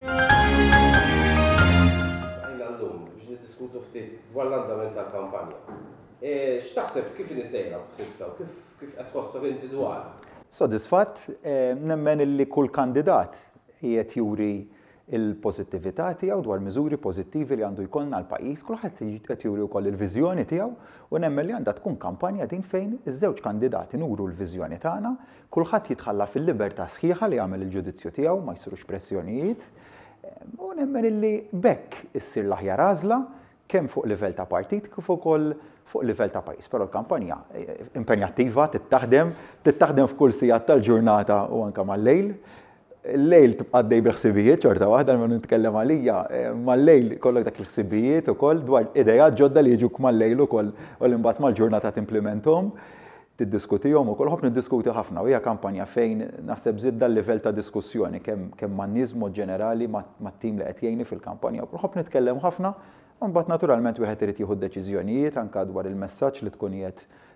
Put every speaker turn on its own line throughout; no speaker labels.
Iltqajna llum biex niddiskutu ftit dwar l-andament tal-kampanja. X'taħseb kif inhi sejra s'issa u kif kif qed tħossok inti dwarha? Sodisfatt,
nemmen illi kull kandidat qiegħed juri l-pożittività tiegħu dwar miżuri pożittivi li għandu jkollna għall-pajjiż, kulħadd qed juri wkoll il-viżjoni tiegħu u nemmen li għandha tkun kampanja din fejn iż-żewġ kandidati nuru l-viżjoni tagħna Kulħadd jitħalla fil-libertà sħiħa li jagħmel il-ġudizzju tiegħu, ma jsirux pressjonijiet, u nemmen illi b'hekk issir l-aħjar għażla kemm fuq livell ta' partit kif ukoll fuq livell ta' pajjiż. Però l-kampanja impenjattiva trid taħdem, trid taħdem f'kull sigħat tal-ġurnata u anke mal-lejl. Il-lejl tibqa' għaddej bil-ħsibijiet xorta waħda minn nitkellem għalija. Mal-lejl kollok dak il-ħsibijiet ukoll dwar idejat ġodda li jiġuk mal-lejl ukoll u li mbagħad mal-ġurnata timplimenthom, tiddiskutihom ukoll. Nħobb niddiskuti ħafna u hija kampanja fejn naħseb żidt dal-livell ta' diskussjoni kemm man-nies b'mod ġenerali, mat-tim li qed jgħinni fil-kampanja wkoll. Nħobb nitkellem ħafna u mbagħad naturalment wieħed irid jieħu d-deċiżjonijiet anke dwar il-messaġġ li tkun qiegħed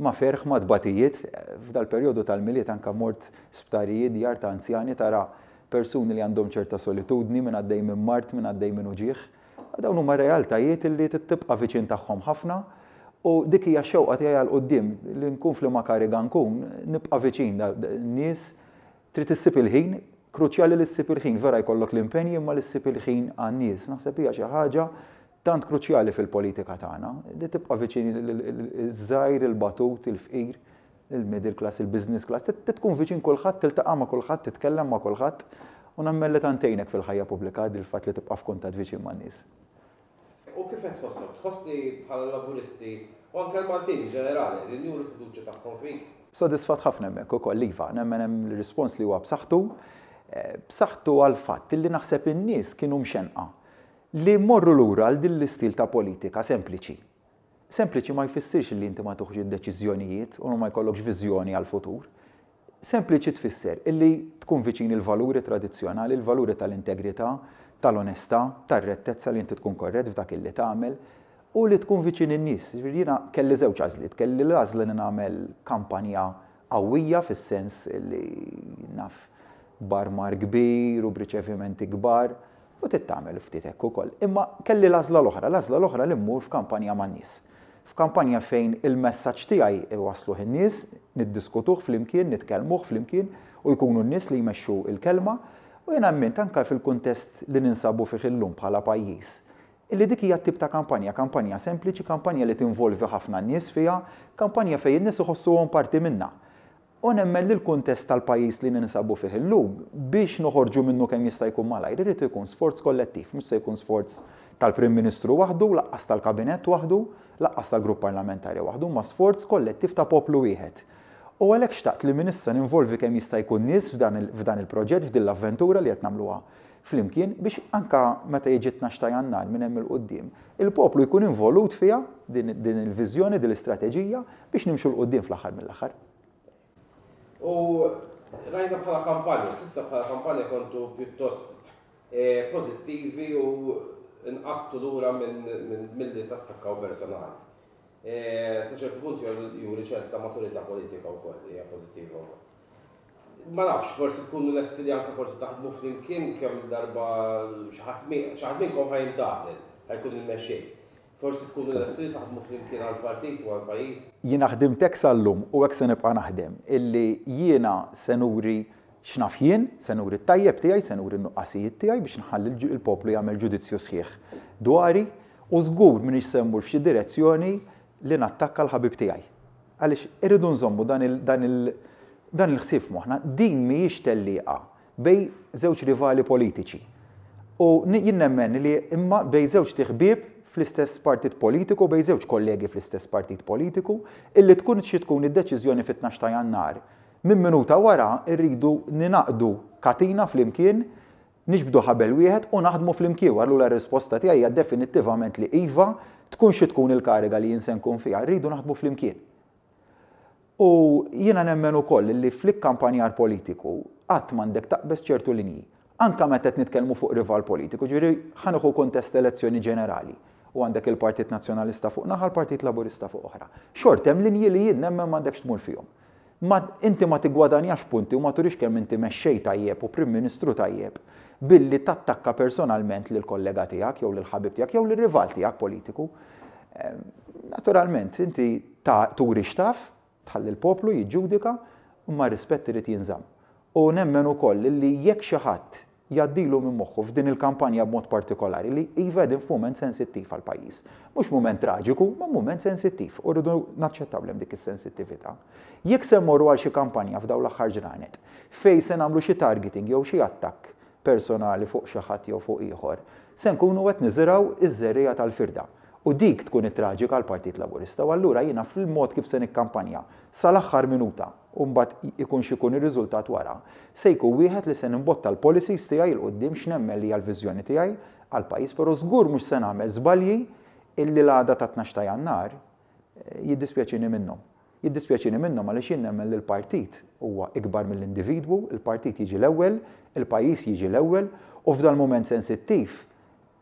Ma' ferħ, ma' tbatijiet, f'dal-perjodu tal-Milied anka mort sptarijiet, djar ta' anzjani, tara persuni li għandhom ċerta solitudni, min għaddej minn mard, min għaddej minn uġigħ. Dawn huma realtajiet li tibqa' viċin tagħhom ħafna u dik hija x-xewqa tiegħi għal quddiem li nkun f'liema kariga nkun, nibqa' viċin n-nies. Trid issib il-ħin, kruċjali li ssib il-ħin, vera jkollok l-impenji imma li ssib il-ħin għan-nies. Naħseb hija xi ħaġa Tant kruċjali fil-politika tagħna li tibqa' viċin iż-żgħir, il-batut, il-fqir, il-middle class, il-business class, trid tkun viċin kulħadd, tiltaqa' ma' kulħadd, titkellem ma' kulħadd u nemmen li tant tgħinek fil-ħajja pubblika dil-fatt li tibqa' f'kuntatt viċin man-nies. U
kif qed tħossok? Tħoss li bħala l-Laburisti, u anke l-Maltin in ġenerali, qegħdin juru l-fiduċja tagħhom fik? Sodisfatt ħafna hemmhekk
ukoll, iva. Nemmen hemm rispons li huwa b'saħħtu. B'saħħtu għall-fatt li naħseb in-nies kienu mxennqa. Li mmorru lura għal din l-istil ta' politika sempliċi. Sempliċi ma jfissirx li inti ma tuħx id-deċiżjonijiet u ma jkollokx viżjoni għall-futur. Sempliċi tfisser illi tkun viċin il-valuri tradizzjonali, il-valuri tal-integrità, tal-onestà, tar-rettezza li inti tkun korrett f'dak illi tagħmel u li tkun viċin in-nies. Jiġifieri jiena kelli żewġ għażliet. Kelli l-għażla li nagħmel kampanja qawwija fis-sens li naf b'armar kbir u b'riċevimenti kbar U trid tagħmel ftit hekk ukoll. Imma kelli l-għażla l-oħra, l-għażla l-oħra li mmur f'kampanja man-nies. F'kampanja fejn il-messaġġ tiegħi iwassluh in-nies, niddiskutuh flimkien, nitkellmuh flimkien u jkunu n-nies li jmexxu l-kelma. U jiena emmiint anke fil-kuntest li ninsabu fih illum bħala pajjiż, illi dik hija t-tip ta' kampanja, kampanja sempliċi, kampanja li tinvolvi ħafna n-nies fiha, kampanja fejn in-nies iħossuhom parti minnha. U nemmen li l-kuntest tal-pajjiż li ninsabu fih illum, biex noħorġu minnu kemm jista' jkun malajr, irid ikun sforz kollettiv, mhux se jkun sforz tal-Prim Ministru waħdu, laqqas tal-Kabinett waħdu, laqqas tal-Grupp Parlamentari waħdu, imma sforz kollettiv ta' poplu wieħed. U għalhekk xtaqt li minn issa ninvolvi kemm jista' jkun nies f'dan il-proġett, f'din l-avventura li qed nagħmluha flimkien biex anke meta jiġi t-tnax ta' Jannar minn hemm 'il quddiem, il-poplu jkun involut fiha din il-viżjoni, din l-istrateġija biex nimxu 'l quddiem fl-aħħar mill-aħħar.
U rajna bħala kampanja, s'issa bħala kampanja kontu pjuttost pożittivi u nqażtu lura milli tattakkaw personali. Sa ċertu punt juri ċerta maturità politika wkoll li hija pożittiva wkoll. Ma nafx, forsi tkunu lesti li anke forsi taħdmu flimkien kemm-il darba xi ħadd xi ħadd minnkom ħa jintgħażel, ħa jkun il-mexxej. Forsi tkunu lesti li taħdmu flimkien għall-partit u għall-pajjiż. Jiena ħdimt hekk
sal-lum u hekk se nibqa' naħdem, illi jiena se nuri x'naf jien, se nuri t-tajjeb tiegħi, se nuri n-nuqqasijiet tiegħi biex nħalli l-poplu jagħmel ġudizzju sħiħ dwari u żgur m'iniex se mmur f'xi direzzjoni li nattakka l-ħabib tiegħi. Għaliex irridu nżommu dan il-ħsieb f'moħħna, din mhijiex tellieqa bejn żewġ rivali politiċi. U jien nemmen li imma bejn żewġt iħbieb fl-istess partit politiku, bejn żewġ kollegi fl-istess partit politiku, illi tkun xi tkun id-deċiżjoni fit-tnax ta' Jannar, minn minuta wara rridu ningħaqdu katina flimkien, Niġbdu ħabel wieħed u naħdmu flimkien u allura r-risposta tiegħi hija definittivament li iva, tkun xi tkun il-kariga li jien se nkun fiha, rridu naħdmu flimkien. U jiena nemmen ukoll illi fl-ikkampanjar politiku qatt m'għandek taqbeż ċertu linji. Anke meta qed nitkellmu fuq rival politiku, jiġifieri ħa nieħu kuntest elezzjoni ġenerali u għandek il-Partit Nazzjonalista fuq naħa, l-Partit Laburista fuq oħra. Xorta hemm linji li jien nemmen m'għandekx tmur fihom. Ma, inti ma tiggwadanjax punti u ma turix kemm inti mexxej tajjeb u Prim Ministru tajjeb billi tattakka personalment lill-kollega tiegħek jew lill-ħabib tiegħek jew lir-rival tiegħek politiku. Naturalment, inti ta, turi x'taf, tħalli l-poplu jiġġudika, imma r-rispett irid jinżamm. U nemmen ukoll li jekk xi ħadd jgħaddilu minn moħħu f'din il-kampanja b'mod partikolari li, iva qegħdin f'mument sensittiv għall-pajjiż. Mhux mument traġiku, ma mument sensittiv u rridu naċċettaw li hemm dik is-sensittività. Jekk se mmorru għal xi kampanja f'dawn l-aħħar ġranet fejn se nagħmlu xi targeting jew xi attakk personali fuq xi ħadd jew fuq ieħor, se nkunu qed niżirgħu ż-żerriegħa tal-firda u dik tkun it-traġika għall-Partit Laburista u allura jiena fil-mod kif se nikkampanja sal-aħħar minuta, u mbagħad ikun x'ikun ir-riżultat wara, se jkun wieħed li se nimbotta l-policies tiegħi 'l quddiem x'nemmen li hija l-viżjoni tiegħi għall-pajjiż però żgur mhux se nagħmel żbalji illi l-għada tat-Tnax ta' Jannar jiddispjaċini minnhom. Jiddispjaċini minnhom għaliex jien nemmen li l-partit huwa ikbar mill-individwu, il-partit jiġi l-ewwel, il-pajjiż jiġi l-ewwel u f'dal-mument sensittiv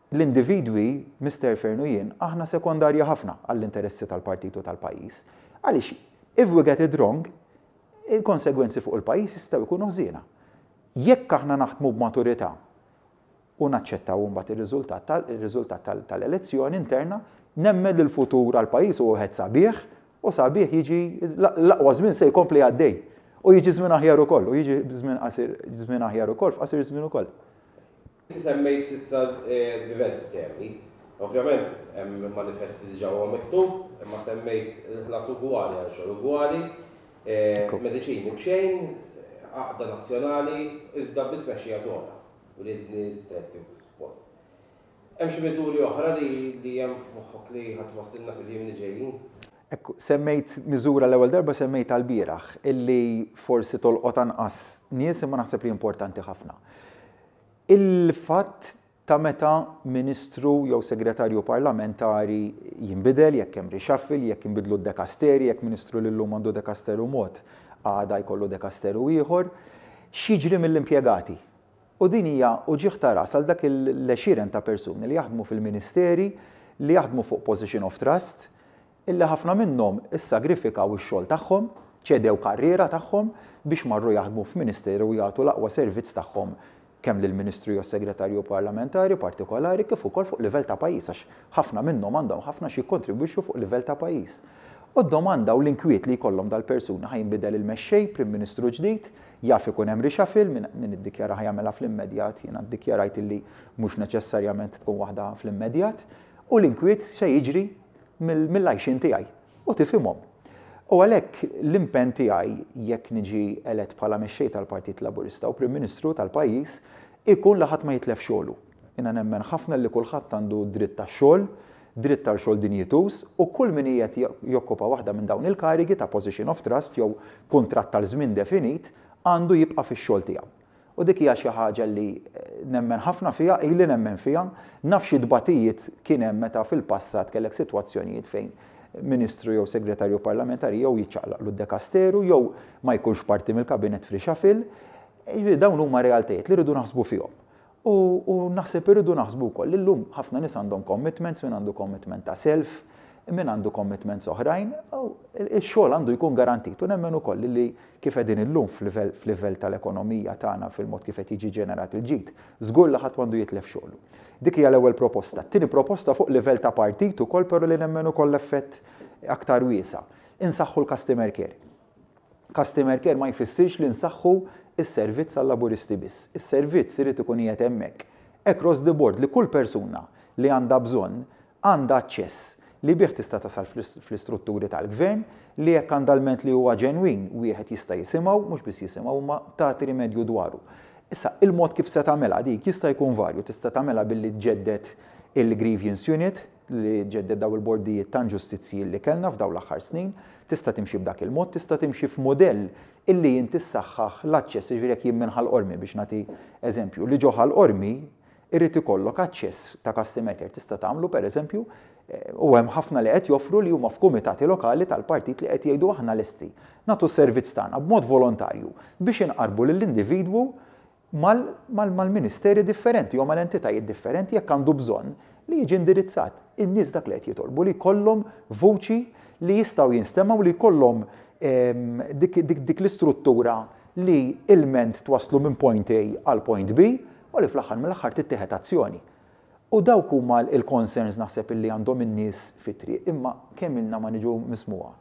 L-individwi, Mister Fearne u jien, aħna sekondarji ħafna għall-interessi tal-partit u tal-pajjiż. Għaliex, if we get it wrong, il-konsegwenzi fuq il-pajjiż jistgħu jkunu ħżiena. Jekk aħna naħdmu b'maturità u naċċettaw imbagħad ir-riżultat ir-riżultat tal-elezzjoni interna, nemmen li l-futur għall-pajjiż huwa wieħed sabiħ u sabiħ jiġi l-aqwa żmien se jkompli għaddej. U jiġi żmien aħjar ukoll, u jiġi żmien qasir żmien aħjar ukoll f'qasir żmien ukoll. Inti
semmejt s'issa diversi temi. Ovvjament hemm il-manifest li diġà huwa miktub, imma semmejt il-ħlas ugwali għal xogħol ugwali, mediċini b'xejn, għaqda nazzjonali iżda bi tmexxija soda, uriedni stretti u post. Hemm xi miżuri oħra li hemm f'moħħok li ħa twasslilna fil-jiem li ġejjin? Hekk,
semmejt miżura għall-ewwel darba semmejtha lbieraħ, illi forsi tolqot anqas nies imma naħseb li importanti ħafna. Il-fatt ta' meta Ministru jew Segretarju Parlamentari jinbidel, jekk hemm reshuffle, jekk jinbidlu d-dekasterji, jekk Ministru li llum għandu dekasteru mod għada jkollu dekasteru ieħor, x'jiġri mill-impjegati? U din hija uġigħ ta' ras għal dak l-għexieren ta' persuni li jaħdmu fil-Ministeri, li jaħdmu fuq position of trust, illi ħafna minnhom issagrifikaw ix-xogħol tagħhom, ċedew karriera tagħhom biex marru jaħdmu f'ministeru u jagħtu l-aqwa servizz tagħhom kemm lill-Ministru jew Segretarju Parlamentari partikolari kif ukoll fuq livell ta' pajjiż għax ħafna minnhom għandhom ħafna xi jikkontribwixxu fuq livell ta' pajjiż. U d-domanda u l-inkwiet li jkollhom dal-persuni, ħa jinbidel il-mexxej, Prim Ministru ġdid, jaf ikun hemm reshuffle, min min iddikjara ħa jagħmilha fl-immedjat, jiena ddikjarajt illi mhux neċessarjament tkun waħda fl-immedjat, u l-inkwiet se jiġri, mill-għajxien tiegħi u tifhimhom. U għalhekk l-impenn tiegħi jekk niġi elett bħala Mexxej tal-Partit Laburista u Prim Ministru tal-pajjiż ikun li ħadd ma jitlef xogħlu. Jiena nemmen ħafna li kulħadd għandu dritt għax-xogħol, dritt għal xogħol dinjituż u kull min qiegħed jokkupa waħda minn dawn il-karigi ta' position of trust jew kuntratt għal żmien definit għandu jibqa' fix-xogħol tiegħu. U dik hija xi ħaġa li nemmen ħafna fiha, ili nemmen fiha. Naf xi tbatijiet kien hemm meta fil-passat kellek sitwazzjonijiet fejn Ministru jew Segretarju Parlamentari jew jiċċaqlaqlu d-dekasteru jew ma jkunx parti mill-Kabinett f'reshuffle. Jiġifieri dawn huma realtajiet li rridu naħsbu fihom. U u naħseb irridu naħsbu wkoll li llum ħafna nies għandhom commitments, min għandu commitment ta' self, min għandu commitments oħrajn, u x-xogħol għandu jkun garantit u nemmen ukoll li kif qegħdin illum f'livell f'livell tal-ekonomija tagħna fil-mod kif qed jiġi ġenerat il-ġid, żgur li ħadd m'għandu jitlef xogħlu. Dik hija l-ewwel proposta. It-tieni proposta fuq livell ta' partit ukoll però li nemmen ukoll effett aktar wiesa'. Insaħħu l-customer care. Customer care ma jfissirx li nsaħħu s-servizz għal-Laburisti biss. Is-servizz irid ikun qiegħed hemmhekk across the board li kull persuna li għandha bżonn għandha aċċess li bih tista' tasal fl-istrutturi tal-Gvern, li jekk għandha lment li huwa ġenwin, wieħed jista' jisimgħu, mhux biss jisimgħu, imma tagħti rimedju dwaru. Issa, il-mod kif se tagħmilha dik jista' jkun varju, tista' tagħmilha billi tġedded il-Grievance Unit, li tġedded dawn il-bordijiet ta' inġustizzji li kellna f'dawn l-aħħar snin, tista' timxi b'dak il-mod, tista' timxi f'mudell illi inti ssaħħaħ l-aċċess, jiġifieri jekk jien minn Ħal Qormi, biex nagħti eżempju, li ġo Ħal Qormi Irid ikollok aċċess ta' customer care. Tista' tagħmlu, pereżempju, u hemm ħafna li qed joffru li huma f'kumitati lokali tal-partit li qed jgħidu aħna lesti nagħtu s-servizz tagħna b'mod volontarju biex inqarrbu lill-individwu mal-ministeri differenti jew mal-entitajiet differenti jekk għandu bżonn li jiġi indirizzat. In-nies dak li qed jitolbu li jkollhom vuċi li jistgħu jinstemgħu li jkollhom dik l-istruttura li ilment twasslu minn point A għal point B u li fl-aħħar mill-aħħar tittieħed azzjoni. U dawk huma l-concerns naħseb illi għandhom in-nies fit-triq imma kemm ilna ma niġu mismugħa.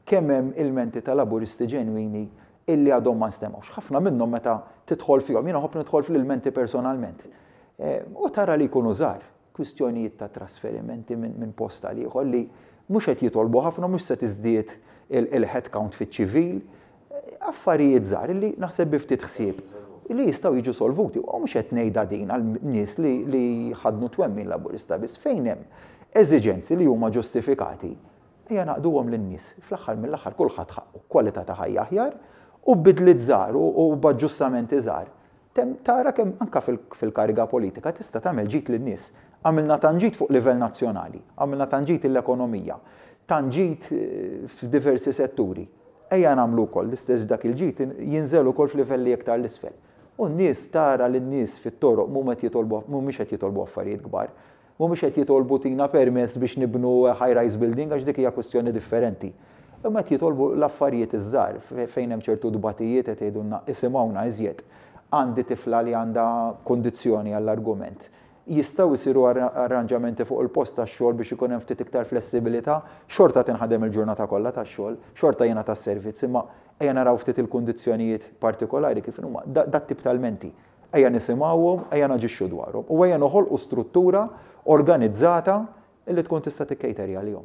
Kemm hemm ilmenti ta' Laburisti ġenwini illi għadhom ma nstemgħux. Ħafna minnhom meta tidħol fihom, jiena nħobb nidħol fl-ilmenti personalment, u tara li jkunu żgħar. kwistjonijiet ta' trasferimenti minn post għal ieħor li mhux qed jitolbu ħafna, mhux se tiżdied il-headcount fiċ-ċivil. Affarijiet żgħar li naħseb bi ftit ħsieb li jistgħu jiġu solvuti. U mhux qed ngħidha din għal nies li jħaddnu twemmin Laburista biss. Fejn hemm eżiġenzi li huma ġustifikati, ejja ngħaqqduhom lin-nies. Fl-aħħar mill-aħħar kulħadd ħaqqu kwalità ta' ħajja aħjar u b'bidliet żgħar u b'aġġustamenti żgħar Temm tara kemm anke fil-kariga politika tista' tagħmel ġid lin-nies. Għamilna tant ġid fuq livell nazzjonali, għamilna tant ġid lill-ekonomija, tant ġid f'diversi setturi. Ejja nagħmlu wkoll l-istess dak il-ġid jinżel ukoll f'livelli iktar 'l isfel. U n-nies tara li n-nies fit-toroq m'huma qed jitolbu mhumiex qed jitolbu affarijiet kbar. mhumiex qed jitolbu tina permess biex nibnu high rise building għax dik hija kwistjoni differenti. Imma qed jitolbu l-affarijiet iż-żgħar fejn hemm ċertu tbatijiet qed jgħidulna isimgħuna iżjed. Għandi tifla li għandha kundizzjoni għall-argument. Jistgħu jsiru arranġamenti fuq il-post tax-xogħol biex ikun hemm ftit iktar flessibilità? Xorta tinħadem il-ġurnata kollha tax-xogħol, xorta jingħata s-servizz imma ejja naraw ftit il-kundizzjonijiet partikolari kif inhuma. Dat-tip ta' lmenti Ejja nisimgħuhom, ejja naġixxu dwarhom u ejja noħolqu struttura organizzata li tkun tista' tikkejteri għalihom.